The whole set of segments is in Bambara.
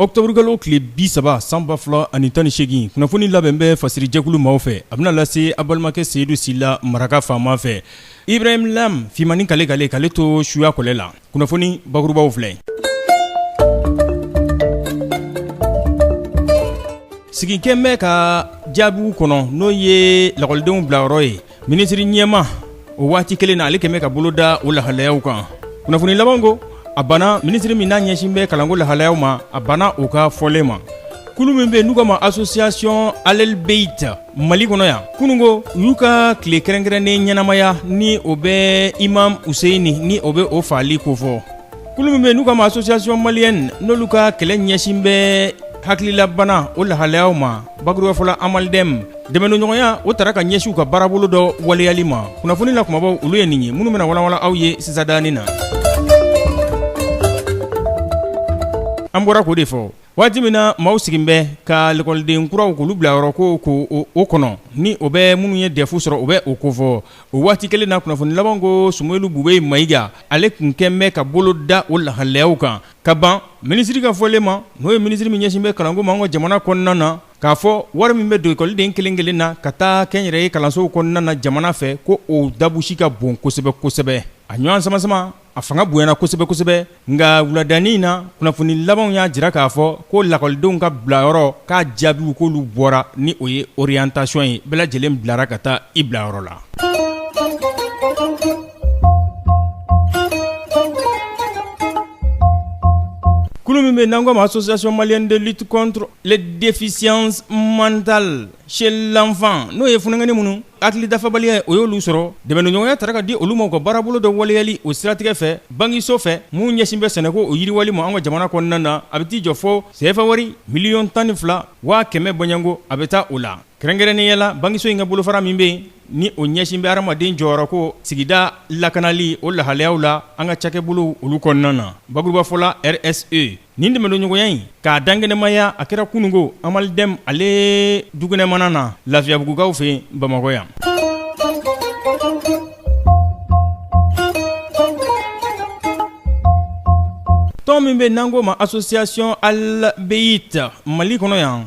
Ɔkutɔburukalo tile bi saba san ba fila ani tan ni segin kunnafoni labɛn bɛ fasiri jɛkulu maaw fɛ a bɛna lase a balimakɛ Seyidu Sila maraka faama fɛ Ibrahim Lam fimanin k'ale ka k'ale to suya kɔlɛ la kunnafoni bakurubaw filɛ sigi kɛlen bɛ ka jaabiw kɔnɔ n'o ye lakɔlidenw bilayɔrɔ ye Minisiri ɲɛmaa o waati kelen na ale kɛlen bɛ ka bolo da o lahalayaw kan kunnafoni laban ko a banna minisiri min n'a ɲɛsin bɛ kalanko lahalayaw ma a banna o ka fɔlen ma kulu min bɛ n'u k'a ma association Ahl el Beit Mali kɔnɔ yan kunun ko u y'u ka tile kɛrɛnkɛrɛnnen ɲɛnamaya ni o bɛ Imam Useyini ni o bɛ o faali kofɔ kulu min bɛ n'u k'a ma association malienne n'olu ka kɛlɛ ɲɛsin bɛ hakililabana o lahalayaw ma Bakuruba fɔla AMALDEME dɛmɛdonɲɔgɔnya o tara ka ɲɛsin u ka baarabolo dɔ waleyali ma kunnafoni na kumabaw olu ye nin ye minnu bɛna walanwalan aw ye sisandanin na an bɔra k'o de fɔ waati min na maaw sigilen bɛ ka lakɔliden kuraw k'olu bilayɔrɔ ko k'o kɔnɔ ni o bɛ minnu ye dɛfu sɔrɔ o bɛ o kofɔ o waati kelen na kunnafoni laban ko Sumeyilu Bubɛyi Mayiga ale tun kɛlen bɛ ka bolo da o lahalayaw kan ka ban minisiri ka fɔlen ma n'o ye minisiri min ɲɛsin bɛ kalanko ma an ka jamana kɔnɔna na k'a fɔ wari min bɛ don ekɔliden kelenkelen na ka taa kɛnyɛrɛye kalansow kɔnɔna na jamana fɛ ko o dabusi ka bon kosɛbɛ kosɛbɛ a ɲɔgɔn samasama a fanga bonyana kosɛbɛ kosɛbɛ nka wuladanin in na kunnafoni labanw y'a jira k'a fɔ ko lakɔlidenw ka bilayɔrɔ k'a jaabiw k'olu bɔra ni o ye orientation ye bɛɛ lajɛlen bilara ka taa i bilayɔrɔ la Kulu min bɛ n'an ko ma association malienne de lutte contre les déficiences mentales chez l'enfant n'o ye funankɛnin minnu hakili dafabaliya ye o y'olu sɔrɔ dɛmɛdonɲɔgɔnya tara ka di olu ma u ka baarabolo dɔ waleyali o siratigɛ fɛ bankiso fɛ min ɲɛsin bɛ sɛnɛko o yiriwali ma an ka jamana kɔnɔna na a bɛ t'i jɔ fɔ sefa wari miliyɔn tan ni fila waa kɛmɛ bɔɲɔgɔnko a bɛ taa o la Kɛrɛnkɛrɛnnenya la bankiso in ka bolofara min bɛ yen ni o ɲɛsin bɛ hadamaden jɔyɔrɔ ko sigida lakanali o lahalayaw la an ka cakɛbolo olu kɔnɔna na bakuruba fɔla RSE nin dɛmɛdonɲɔgɔnya in k'a dankɛnɛmaya a kɛra kununko AMALDEME ale dukɛnɛma na lafiyabugukaw fɛ yen Bamakɔ yan tɔn min bɛ n'an ko ma association Ahl el Beit Mali kɔnɔ yan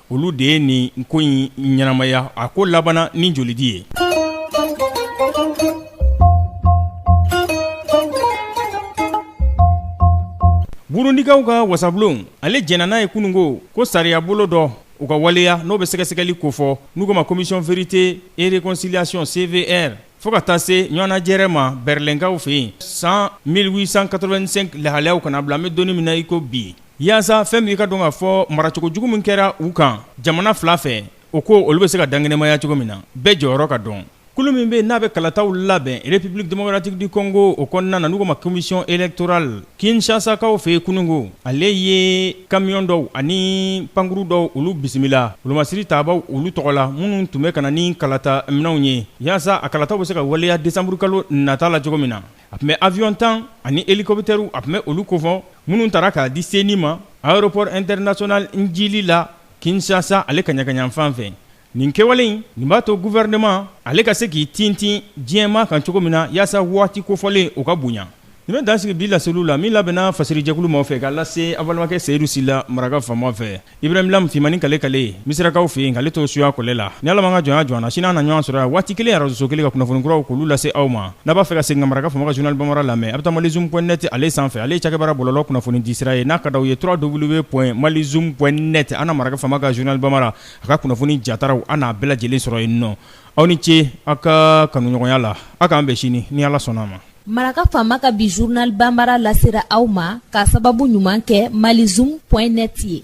olu de ye nin ko in ɲɛnamaya a ko labanna ni jolidi ye Burundikaw ka wasabulon ale jɛnna n'a ye kunun ko ko sariya bolo dɔ o ka waleya n'o bɛ sɛgɛsɛgɛli kofɔ n'u ko ma commission vérité et réconciliation CVR Fo ka taa se ɲɔgɔnnajɛrɛ ma Bɛrɛlɛnkaw fɛ yen san 1885 lahalayaw ka n'a bila an bɛ don min na iko bi yaasa fɛn bɛɛ ka dɔn k'a fɔ maracogo jugu min kɛra u kan jamana fila fɛ o ko olu bɛ se ka dankɛnɛmaya cogo min na bɛɛ jɔyɔrɔ ka dɔn kulu min bɛ n'a bɛ kalataw labɛn République démocratique du Congo o kɔnɔna na n'u k'o ma Commission électorale Kinsasakaw fɛ kununko ale ye kamiyon dɔw ani pankurun dɔw olu bisimila olu masiri tabaw olu tɔgɔ la minnu tun bɛ ka na ni kalata minɛnw ye yaasa a kalataw bɛ se ka waleya desanburu kalo nata la cogo min na a tun bɛ aviyɔn tan ani elikɔpitɛriw a tun bɛ olu kofɔ minnu taara k'a di CENI ma aéroport international Ndjili la kinsasa ale kaɲagayanfan fɛ Nin kɛwale in nin b'a to gouvernement ale ka se k'i tintin diɲɛmaa kan cogo min na yaasa waati kofɔlen o ka bonya. Nin bɛ dan sigi bi laseliw la min labɛnna fasirijɛkulu maaw fɛ k'a lase aw balimakɛ Seyidu Sila maraka faama fɛ. Ibrahim Lam Fimani kale kale Misirakaw fɛ yen k'ale to suya kɔlɛ la. Ni Ala ma an ka jɔnya jɔ an na, sini an na ɲɔgɔn sɔrɔ yan waati kelen arajoso kelen ka kunnafoni kuraw k'olu lase aw ma. N'a b'a fɛ ka segin ka maraka faama ka journal Bamara lamɛn, a bɛ taa malizoom point net ale sanfɛ. Ale ye cakɛbara bɔlɔlɔ kunnafonidisira ye n'a ka d'aw ye www.malizoom.net an na maraka faama ka journal Bamara a ka kunnafoni jataraw an n'a bɛɛ lajɛlen sɔrɔ yen nɔ aw ni ce aw ka kanuɲɔgɔnya la aw k'an bɛn sini ni ala sɔnna a ma maraka faama ka bi journal bambara lasera aw ma k'a sababu ɲuman kɛ malizoom point net ye